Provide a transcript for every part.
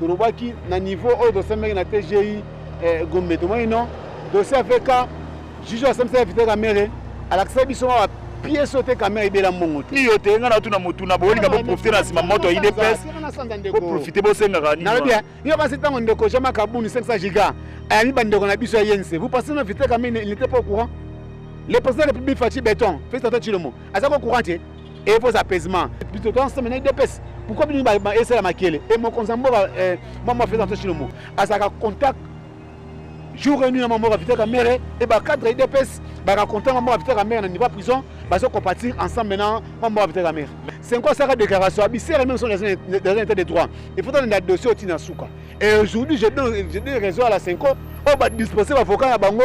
tolobaki na niveau oyo tosembaki na tgi eh, gombe tomoni non dossier ya vk juge asambisaki vite kamere alakisaki biso ma piese oyo te kamere ebela mbongo te iyo te ngai natuna motuna boyolinga boprofite na nsima moto ya idps boprofite bosengaka nalobi yo basi ntango ndeko jean makabuni 500 giga ayami bandeko na biso ya yense vous pensez na vite kamere il n'était pas au courant le président de la république faci béton félix antoine tshilombo aza ko courant te e faut apaisement biso to ensemble na udps pourquoi bino esala makele e mokonzi ya mboka eh, mwa mwa feza toshilombo azalaka contact jour et nuit na mwa mboka vitaka mere e bacadre ya udps baka contact mwa mboka vitaka mere na niveau ya prison bazocompatir ensemble na mwa mboka vitaka mere senko asaka déclaration abisere même sont dans un état de droit il faut tolanda dossier otina suka et aujourd'hui je donne raison à la senko oyo badisposer bavocat na bango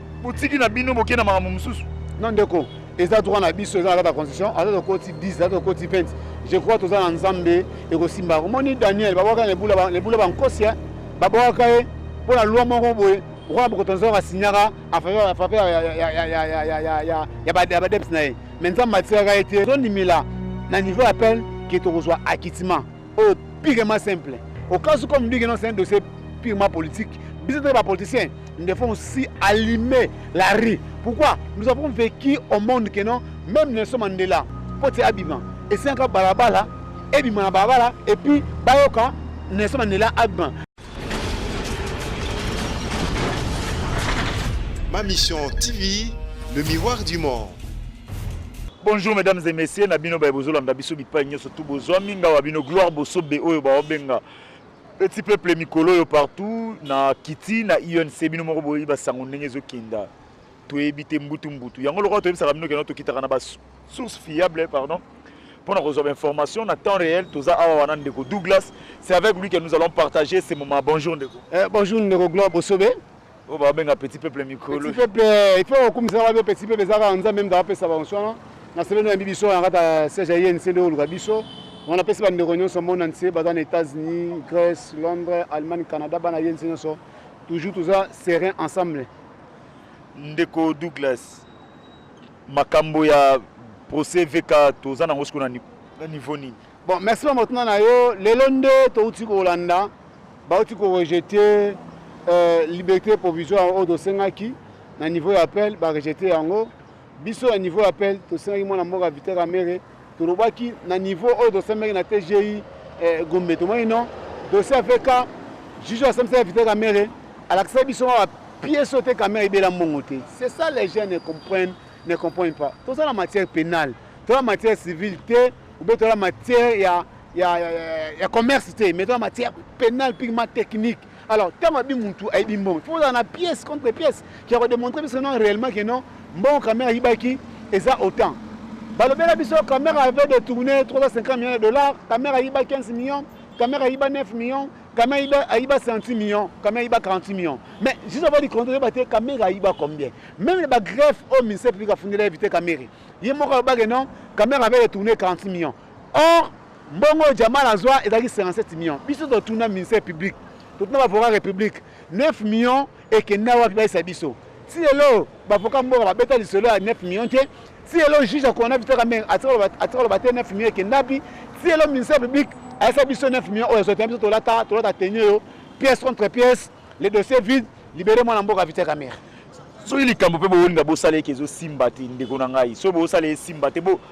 botiki na bino bokei na makambo mosusu non ndeko eza droit na biso eza na kati ya constitution aza tokoti 10 aza tokoti 20 je crois toza na nzambe ekosimba omoni daniel babwaka lebula bankosi babwaka ye mpo na loi moko boye okola bokoto nzoko asinyaka afape ya badeps na ye me nzambe atikaka ye te tondimela na niveau ya pele ke tokozwa akitima oyo purement simple au cas où comme ndenge non c'est un dossier purement politique biso toyeba bapoliticien nous devons aussi allumer la rue pourquoi nous avons vécu au monde que non même nelson mandela mpo te abima esengaka balabala ebima na balabala epuis bayoka nelson mandela abima Ma Mission TV, le miroir du monde. Bonjour mesdames et messieurs, na bino baye bozolanda biso bipai nyonso tu bozwami ngawa bino gloire bosobe oyo baobenga petit peuple mikolo oyo partout na kiti na UNC bino moko boyebi basango ndenge ezokenda toyebi te mbutu mbutu yango lokola toyebisaka bino keno tokitaka na ba source fiable pardon mpo na kozwa bainformation na temps réel toza awa wana ndeko douglas c'est avec lui que nous allons partager ce moment bonjour ndeko eh, bonjour ndeko gloire bosobe oyo oh, babenga petit peuple mikolo peuple eh, il faut okumisaka babe petit peuple eza kaka nzambe mda apesa banso wana na sebe no yambi biso na kati ya siège ya yenc nde oluka biso wana apesi bandeko nyonso mona nse baza na états-unis grèce londres allemagne canada bana yenc nyonso toujours toza serein ensemble Ndeko Douglas, makambo ya procès VK toza nango siko na niveau nini? Bon, merci mama otuna na yo. Lelo nde touti kolanda bauti ko rejeter euh, liberté provisoire oyo tosengaki na niveau ya appel ba rejeter yango Biso na niveau ya appel tosengaki mwana mboka Vital Kamerhe, tolobaki na niveau oyo tosambaki na TGI eh, Gombe, tomoni non dossier ya VK juge asambisa ya Vital Kamerhe alakisa biso ma pièce oyo te Kamerhe ebela mbongo te. C'est ça les gens ne comprennent ne comprennent pas. Toza na matière pénale, toza na matière civile te, ou bien toza na matière ya ya, ya, ya, ya commerce te, mais toza na matière pénale purement technique. Alors, tant ma bimuntu ayebi mbongo, faut dans la pièce contre pièce qui a démontré parce que non réellement que non mbongo Kamera yibaki eza autant. Balobela biso Kamera avait détourné 350 millions de dollars, Kamera yiba 15 millions, Kamera yiba 9 millions, Kamera yiba ayiba 100 millions, Kamera yiba 40 millions. Mais juste avant de compter ba te Kamera yiba combien? Même ba greffe au ministère public a fondé éviter Kamera. Yemoko ba que non Kamera avait détourné 40 millions. Or Mbongo oyo Jamal azwa ezalaki 57 millions. Biso totuna ministère public, totuna bavocat republique 9 millions ekenda wapi bayisa biso. Ti lelo bavocat mboka babeta lisolo ya 9 millions te. Ti lelo juge akona Vital Kamerhe atika loba te 9 millions ekenda wapi. Ti lelo ministère public ayisa biso 9 millions oyo azwa te biso tolata tolata tenue yo pièce contre pièce le dossier vide libere mwana mboka Vital Kamerhe. soki likambo mpe bowonda bosala eke ezosimba te ndeko na ngai soki bosala esimba te bo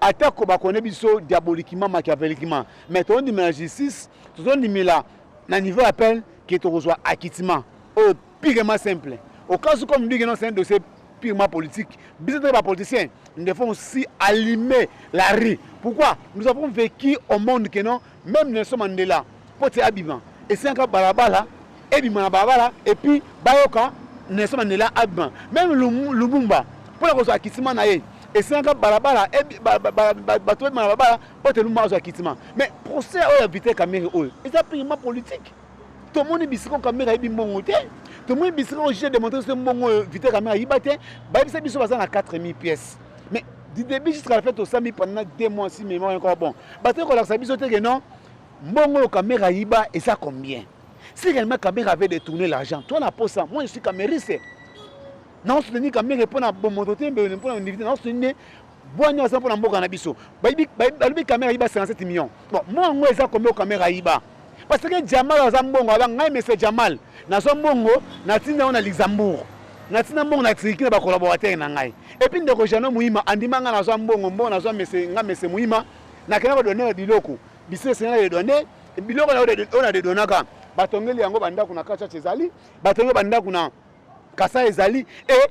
Ata ko ba connait biso diaboliquement, machiaveliquement, mais tozo ndimela na justice, tozo ndimela na niveau ya peine que tokozwa acquittement oyo purement simple. Au cas où comme dit que non c'est un dossier purement politique, biso toza ba politiciens, nous devons aussi allumer la rue. Pourquoi? Nous avons vecu au monde que non Meme Nelson Mandela mpo te abima esengaka balabala ebima na balabala epuis bayoka Nelson Mandela abima. Meme Lumumba mpo na kozwa akitima na ye esengaka balabala bato ebima na balabala mpo te Lumumba azwa akitima. Mais procès oyo ya Vital Kamerhe oyo eza purement politique. tomoni bisika kamere ayebi mbongo te tomoni bisika oyo juge demontre biso mbongo oyo vite kamere ayiba te bayebisa biso baza na 4000 pièces mais du début jusqu'à la fin tosami pendant deux mois si mémoire encore bon bataki kolakisa biso te ke non mbongo oyo kamere ayiba eza combien si réellement kamere avait détourné l'argent toi na posa moi je suis kameriste naosoutenir kamere mpo na bomoto te mpo na univité naosoutenir Bwanya oza mpo na mboka na biso. Balobi kamera ayiba 57 millions. Bon, mwa yango eza combien kamera ayiba? Parce que Jamal aza mbongo, aba ngai monsieur Jamal, nazwa mbongo natinda yango na Luxembourg. Natinda mbongo na Turquie na ba collaborateurs na ngai. Et puis ndeko Jeannot Muhima andima ngai nazwa mbongo, mbongo nazwa monsieur ngai monsieur Muhima, nakenda ko donner biloko. Biso esengeli de donner biloko na oyo na de donaka. Batongeli yango bandako na Kachacha ezali, batongeli bandako na Kasai ezali et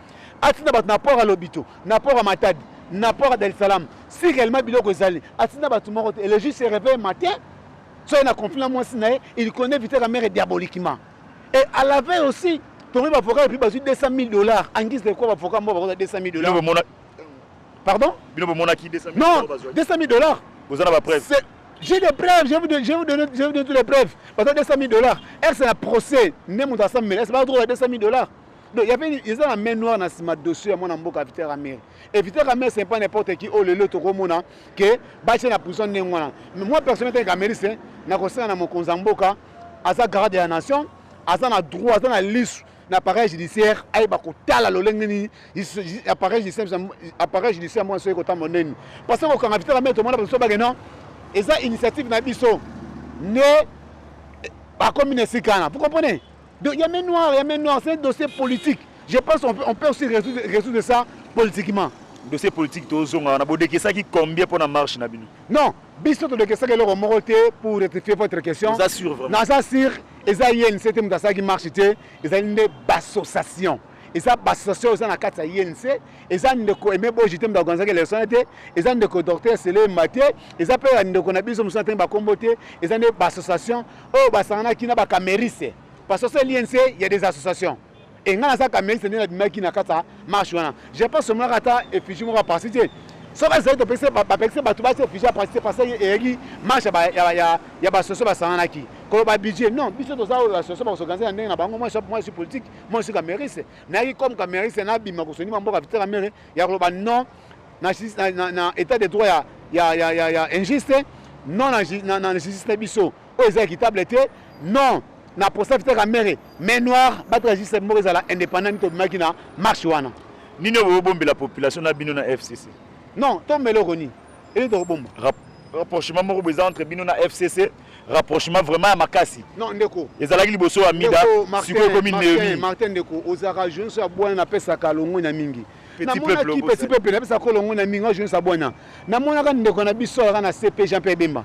atinda bato na port ya lobito na port ya matadi na port ya dar es salaam si réellement biloko ezali atinda bato moko te et le jour se réveille matin so ye na conflit na mwasi na ye il connaît vite la mère diaboliquement et à la veille aussi tomi bavoka epuis bazwi 200 000 dollars en guise de quoi bavoka moko bakozwa 200 000 dollars Bino bomona- pardon bino bomonaki 200 000 non euros bazwaki. 200 000 dollars boza na bapreuve C'est- J'ai des preuves, je vais vous donner, je vais vous donner, je vais vous donner toutes les preuves. Parce que 200 000 dollars, elle c'est un procès. Même dans 100 000, elle c'est pas droit à 200 000 dollars. Donc, il y avait ils ont la main noire dans ce dossier à mon amboka Vita Ramere. Et Vita Ramere c'est pas n'importe qui oh le lot au mona que bâtir la prison n'est moi. Mais moi personnellement comme américain, n'a conseillé à mon konzamboka à sa garde de la nation, à sa droit, à sa liste l'appareil judiciaire ayeba kotala lolenge nini appareil judiciaire mwana soki kotala monene parce que kokanga vitala mete omona bato so bake non eza initiative na biso nde bakomi na esika wana vous comprenez Donc, il y a main noire, il y a main noire, c'est un dossier politique. Je pense qu'on peut, on peut aussi résoudre, résoudre ça politiquement. Dossier politique, tu as on a beau ça qui combien pour la marche na bino Non, biso to ça que le moko te pour rectifier votre question. Ça sûr vraiment. Non, ça sûr, eza yeni c'était muta ça qui marche te, eza une association. eza bassociation eza na kati ya inc eza ndeko aime boji te mutu akonzaki leson te eza ndeko docteur selema te eza mpe ya ndeko na biso mosusu na ntangi bakombo te eza nde baassociation oyo basanganaki na ba kameriste parce que seli nse il y a des associations et nga naza kameriste nde nabimaki na kati ya marche wana je pense omonaka ata effigie moko aparti te soki ezali topekisi bapekisi bato bati effigie aparti te parce que eyaki marche ya basoso basanganaki koloba budget non biso toza oyo basoso bakosoganze na ndenge na bango moi suis politique moi suis kameriste nayaki comme kameriste nabima kosonima mboka vitela mere ya koloba non na, na, na, na état de droit ya, ya, ya, ya, ya injuste non na, na, na justice na biso oyo eza équitable te non na procès peter kamere mais noir batela justice moko ezala indépendant mito obimaki na marche wana nini oyo bobombela population na bino na fcc non tombela oko nini elini tokobomba rapprochement moko boza entre bino na fcc rapprochement vraiment ya makasi non ndeko ezalaki liboso ya mida sikoyo ekomi neomi martin ndeko ozalaka jeunso ya bwana napesaka longoi na mingi namonaki petit peuple na pesa kolo nguna mingi ojo sa bwana namonaka ndeko na biso aka na CP Jean Pierre Bemba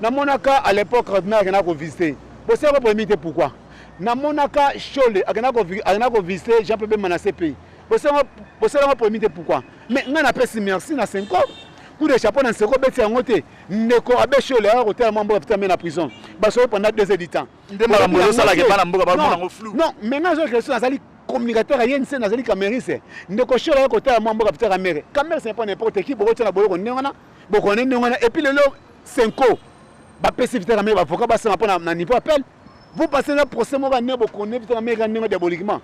namonaka à l'époque ordinaire akenda ko visiter bosala ko polémique te pourquoi namonaka Shole akenda ko akenda ko visiter Jean Pierre Bemba na CP bosala bosala ko polémique te pourquoi mais nga na pesi merci na Senko coup de chapeau na Senko beti yango te ndeko abe Shole aka kotala mambo ya putain mais na prison basoki pendant deux heures du temps nde makambo ezosalaka bana mboka bamona yango flou non mais nga azwa question azali communicateur ya yeni se nazali kamerise ndeko shola ye kotala mwa mboka pitaka mere kamerise n'est pas n'importe qui bokotya na boloko ndenge wana bokone ndenge wana epuis lelo senko bapesi vitaka mere bavoka basema mpo na niveau appel vous passez na procès moko ane bokone vitaka mere ndenge diaboliquement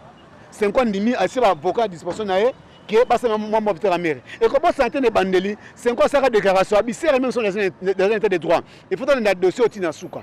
senko andimi asie bavoka ya disposition na ye ke basema mwa mwa vitaka mere ekobosana te na ebandeli senko asaka déclaration abisere meme son dans un état de droit il faut tolanda dossier oti na suka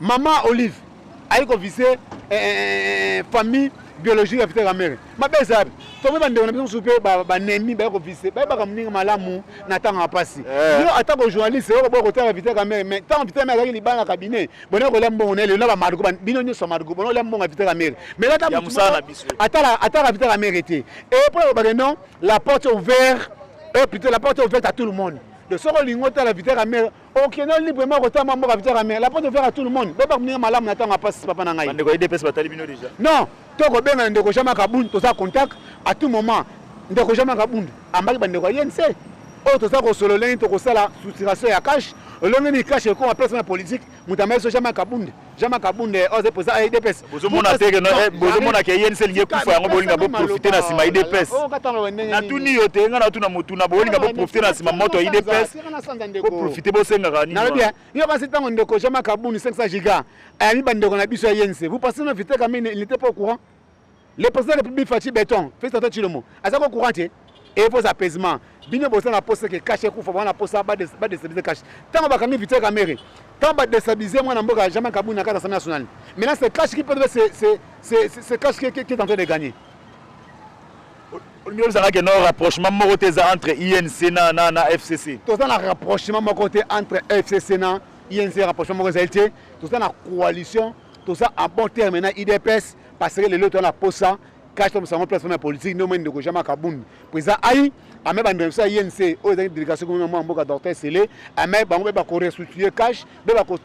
Maman Olive ayi ko viser eh, eh, eh, eh famille biologique ya Peter Kamere. Mabe eza wapi? Tombe ba ndeko na biso supe ba ba nemi ba ko viser. Ba ba kamninga malamu na tanga ya pasi. Eh. Yo ata ko journaliste yo ko boko tanga Peter Kamere mais tant Peter Kamere azaki libanga cabinet. Bona ko lembo ngone le na ba margo bino nyoso margo bona lembo ngone Peter Kamere. Mais là Ya musala na biso. atala atala Peter Kamere te. Et pour le bagay non, la porte est ouverte. Euh, plutôt la porte est ouverte à tout le monde. Donc soki olingi otala Peter Kamere Okende yo libre moko ta mwa mboka vitara mais la porte ouvert à tout le monde. Beba kuninga malamu na tango ya pasi papa na ngai. Bandeko ya IDPS batali bino déjà. Non, to ko benga ndeko Jean Marc Abund toza contact à tout moment. Ndeko Jean Marc Abund ambaki bandeko ya INC. Oyo toza ko solo lengi to ko sala soutiration ya cash. Olongi ni cash ekoma place na politique. Mutamba yeso Jean Marc Abund. Jama Kabund eh, oze poza eh, IDPS. Bozo mona teke no eh, bozo mona ke INC linge kufa yango bolinga bo profiter na sima IDPS. Oh, na tuni yo te nga na tuna mutu na bolinga bo profiter na sima moto IDPS. Ko profiter bo senga kani. Na bien. Yo basi tango ndeko Jama Kabund 500 giga. Ayami bandeko na biso ya INC. Vous pensez na vite kamine il n'était pas au courant? Le président de la République Fatshi Beton, félicitations Chilomo. Aza ko courant te. Et vos apaisements. Bino bosa na poste que cash ekufa bana posa ba ba déstabiliser cash. Tango bakangi Vital Kamerhe, tango ba déstabiliser mwana mboka jamais Kabund na kata Assemblée nationale. Maintenant c'est cash qui peut c'est c'est c'est c'est cash qui, qui, qui est en train de gagner. olingi obisaka ke no rapprochement moko te eza entre inc na, na, na fcc toza na rapprochement moko te entre fcc na inc rapprochement moko ezali te toza na coalition toza en bon terme na idps Parce que lelo to na posa cash to musango place ya politique ndio mwe ndeko Jama Kabund président ai ame ba ndeko ya INC oyo ezali délégation comme mwa mboka docteur Sele ame bango be ba ko restituer cash be ba ko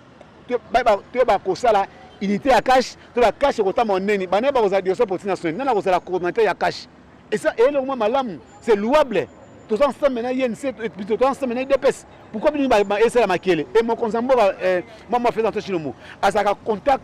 to ba ko sala unité ya cash to ba cash ko tama neni bana ba ko za dioso politique nationale nana ko sala coordinateur ya cash et ça et le mwa malamu c'est louable toza ensemble na ye nse toza ensemble na ye dps pourquoi bino esala makele e mokonzi ya mboka mwa mwa feza nto chinomo azalaka contact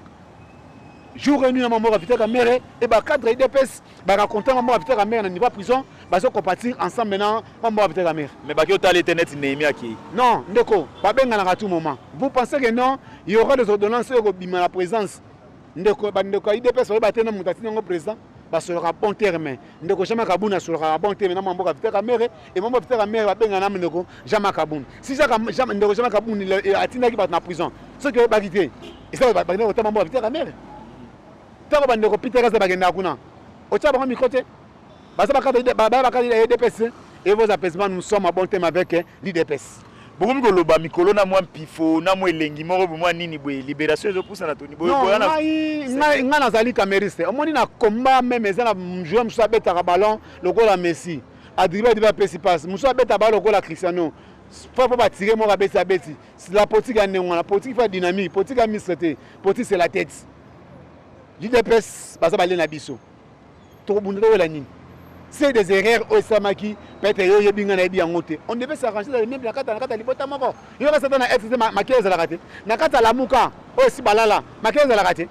jour et nuit na maman mboka Vital Kamerhe et ba cadre IDPS ba racontant maman mboka Vital Kamerhe na niveau prison bazo compatir ensemble na maman mboka Vital Kamerhe mais baki otali te net Nehemia aki non ndeko ba benganaka tout moment vous pensez que non il y aura des ordonnances oyo ko bima na présence ndeko ba ndeko IDPS ba yeba te na mutati nango président basolaka bon terme ndeko jean makabuni asolaka bon terme na mwa mboka vita kamere emambo vita kamere babenga na ndeko jean makabuni si ndeko jean makabuni eh, atindaki bato na prison soki oyebaki te eza bakenda kotama mboka vita kamere ntango bandeko peter kaza bakendaka kuna otya bango mikro te baza bakadida edps et vos apaisement nous sommes à bon terme avec l'idps bokomi koloba mikolo na mwa mpifo na mwa elengi moko bo mwa nini boye liberation ezopusana toni boyengai nazali cameriste omoni na combat meme eza na joueur mosusu abetaka ballon lokola messi adriba adriba apesi passe mosusu abeta ballon lokola cristiano fa mpo batire moko abeti abeti la politique ya ndenge wana politique fa dynamique politique ya mistre te politique c'est la tête udps baza bale na biso tokobunda towela nini se des erreurs oyo esalamaki peut-être yo oyebi ngai nayebi yango te on devait s'arranger dans le même na kati na kati ya libota moko yo kasi ata na fcc makele ezalaka te na kati ya lamuka oyo esi balala makele ezalaka te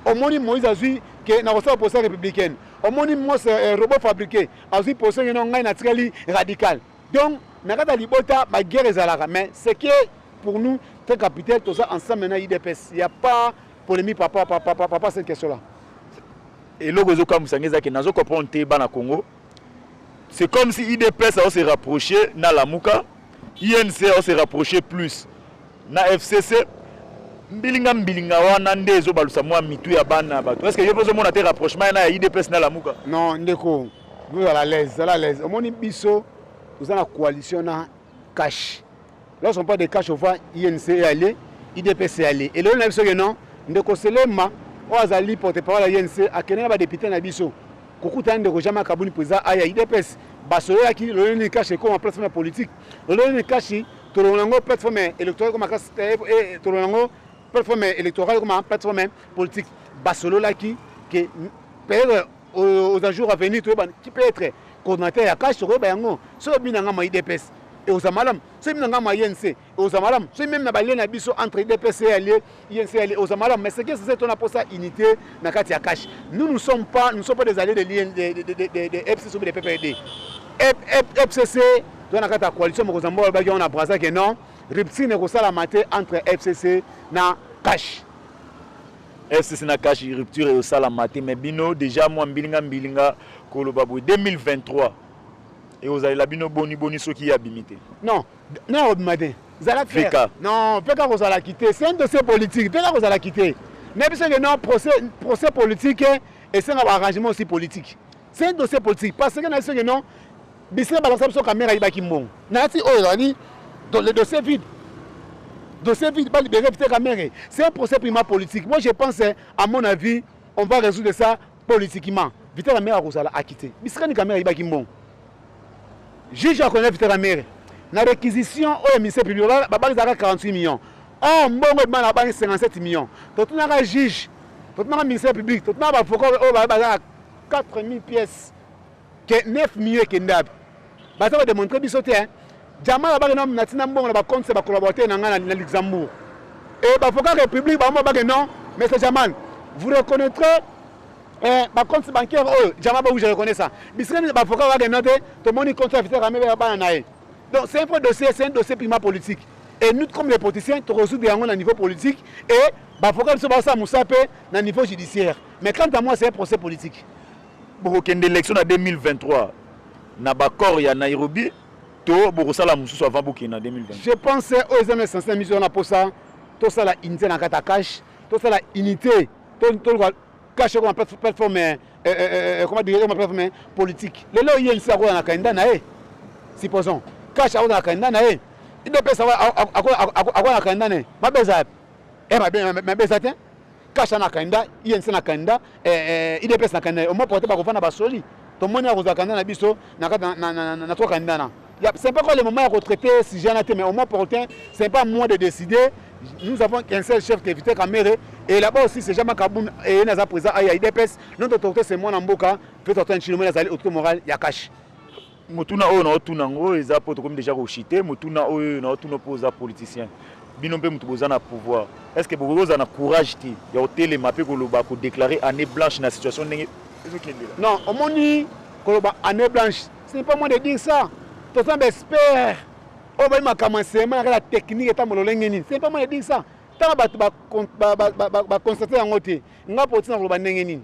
omoni moïse azwi ke nakosala posa républicaine omoni mose eh, robot fabriqué azwi posa ngeno ngai natikali radical donc na kati ya libota baguerre ezalaka mais ce que pour nous très capital toza ensemble na idps ya pas Polemique papa papa papa papa cette question là. Eloko ezo kamusa nge ezaki nazo comprendre te bana Congo. C'est comme si IDPS a se rapprocher na Lamuka, INC a se rapprocher plus na FCC. Mbilinga mbilinga wana nde ezo balusa mwa mitu ya bana bato. Est-ce que yo pozo mona te rapprochement na ya IDPS na Lamuka? Non ndeko, vous à l'aise, à l'aise. Omoni biso oza na coalition na cash. Lorsqu'on parle de cash au vent, INC est allé, IDPS est allé. Et le na biso que non, ndeko Selema, oyo azali porte-parole ya INC, akende na ba députés na biso. Kokutana ndeko Jama Kabuni président aya IDPS, basololaki lolenge nini cash ekoma plateforme ya politique. Lolenge nini cash tolongola yango plateforme électorale ekoma kasi eh, eh, tolongola yango plateforme électorale ekoma plateforme politique. Basololaki que peut-être Oyo oza jour à venir toyeba qui peut être coordinateur ya cash tokoyeba yango soki obina nga ma idps eoza malamu soki bina nga ma inc eoza malamu soki meme na balie na biso entre idps e alie inc alie eoza malamu mais ce qui est censé tona posa unité na kati ya cash nous nous sommes pas nous sommes pas des alliés de lien de, de, de, de, de fcc ou de ppd fcc toza na kati ya coalition mokonzi ya mboka alobaki yango na brasa ke non rupture ekosalama te entre fcc na cash FCC na cash rupture ezo sala mate mais bino deja mwa mbilinga mbilinga koloba boye 2023 ekozalela bino boni boni soki ye abimi te non non akobima te zala clair non peka kozala kite c'est un dossier politique peka kozala kite na biso ke non procès procès politique esenga ba arrangement aussi politique c'est un dossier politique parce que na biso ke non Bisina balakisa biso kamera ayibaki mbongo. Nayati oyo ezali le dossier vide. Dossier vide, ba libérer vite kamera. C'est un procès prima politique. Moi je pense à mon avis, on va résoudre ça politiquement. Vite kamera akozala akite. Bisika ni kamera ayibaki mbongo. Juge akoyeba vite kamera. Na réquisition oyo ministère public babakisaka 48 millions. Or mbongo ebana abani 57 millions. Totunaka juge, totunaka ministère public, totunaka ba avocats oyo bazala 4000 pièces. que 9 millions ekende wapi baza kodemontre biso te jamal abake natina mbongo na bacompte ya bacollaborateur na ngai na luxembourg e bavoka république bango babake non monsieur jamal vous reconnaîtrez eh, bacompte bancaire oyo jamal bakuji reconnaît ça bisika nini bavoka babake non te tomoni compte ya viteur amebe ya bana na ye donc c'est un vrai dossier c'est un dossier purement politique et nous comme les politiciens tokozude yango na niveau politique et bavoka biso basala mosala mpe na niveau judiciaire mais quant à moi c'est un procès politique Bokokende election na 2023 na baccord ya Nairobi to bokosala mosusu avant bokende na 2020? Je pense oyo eza na essence na miso wana posa tosala unité na kata cash tosala unité toluka cash ekoma plateforme eh, eh, eh, comment dire ekoma plateforme politique lelo ye nsi akola na kanda na ye supposons cash akola na kanda na ye idps akola na kanda na ye mabeza yapi e mabeza te kasha na kanda inc na kanda eh, eh, idps na kanda omwa porte bakofa na basoli tomoni akozwa kanda na biso na kati na twa kanda na c'est pas quoi le moment ya kotraite sujet na te mais omwa porte c'est pas moi de décider nous avons qu'un seul chef qui éviter kamere et là-bas aussi c'est jamais kabun et naza présent à idps notre autorité c'est moi na mboka peut-être un chinois nazali autorité morale ya kashi motuna oyo naotuna yango eza mpo tokomi deja koshite motuna oyo naotuna mpo oza politicien bino mpe moto boza na pouvoir est ce que bokoki kozala na courage te ya kotelema mpe koloba kodeclare année blanche na situation ndenge ezokendela non omoni koloba année blanche ce n'est pas moi de dire ça toza na baexpert oyo bayi makambo ya nsema yaka na technique etambo lolenge nini ce n'est pas moi de dire ça ntango bato baconstate yango te ngai mpo otina koloba ndenge nini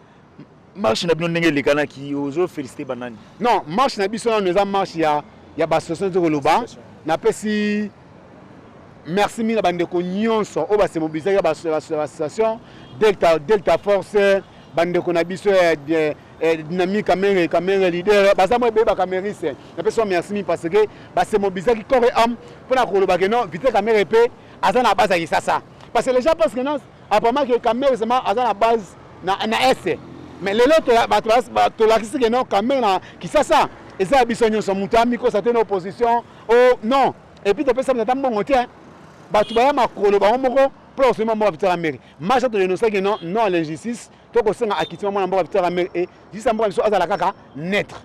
marche na bino ndenge elekanaki ozo félicité banani non marche na biso nano eza marche ya, ya basoso nde koloba napesi merci mingi na bandeko nyonso oyo basemobilisaki ya bassociation delta, delta force bandeko na biso ya eh, eh, dynamique kamere kamere leader baza mwa ebele bakamerise napesi wa merci mingi parce que basemobilisaki corps et ame mpo na kolobake non vite kamere mpe aza na base ya kisasa parce que les gens pensent que non Apparemment que Kamerhe vraiment aza na base na, na Est. Mais lelo tolakisi que non Kamerhe na Kisasa eza ya biso nyonso moto ya mikosa te na opposition o oh, non epuis topesa moto ata mbongo te bato baya makolo bango moko mpo na kosomi mboka vitara mere masha todenosaki non non l'injustice to kosenga akitima mwana mboka vitara mere e jisa mboka biso azala kaka neutre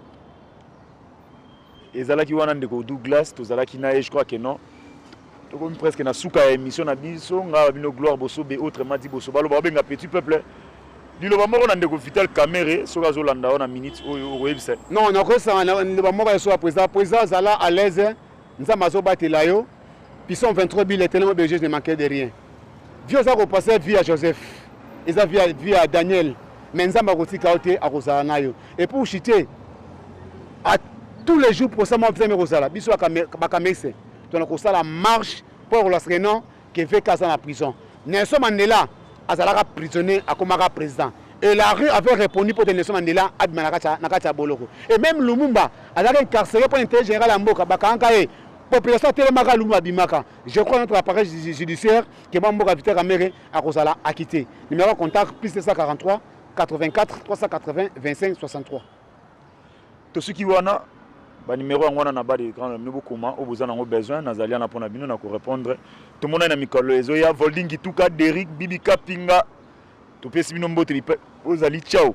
ezalaki wana ndeko Douglas tozalaki na ye je crois que non tokomi presque na suka ya émission na biso ngai bino gloire bosobe autre madi boso baloba babenga petit peuple liloba moko na ndeko vital kamere soki azolanda yo na minute oyo okoyebisa non nakosanga liloba moko ya soa président président azala à l'aise nzambe azobatela yo pison 23 bile etelema belge ne manque de rien Vie oza ko passer vie ya Joseph eza vie ya vie ya Daniel mais Nzambe akotika yo te akozala nayo et pour chiter à tous les jours pour ça moi vous aimez kozala biso ba kamese tona kosala marche pour la non que VK aza na prison Nelson Mandela azalaka prisonnier akomaka président et la rue avait répondu pour Nelson Mandela abima na kati ya boloko et même Lumumba azalaki incarcéré pour intérêt général ya mboka bakangaka ye population atelemaka Lumumba abimaka Je crois notre appareil judiciaire que ba mboka Vital Kamerhe akozala acquitté. Numéro de contact plus 243 84 380 25 63. Tosuki wana ba numéro yango wana na ba de grand mino bokoma oyo boza nango besoin nazali wana mpo na bino na korepondre tomonani na mikolo ezoya volding kituka deric bibi kapinga topesi bino mbote ozali ciao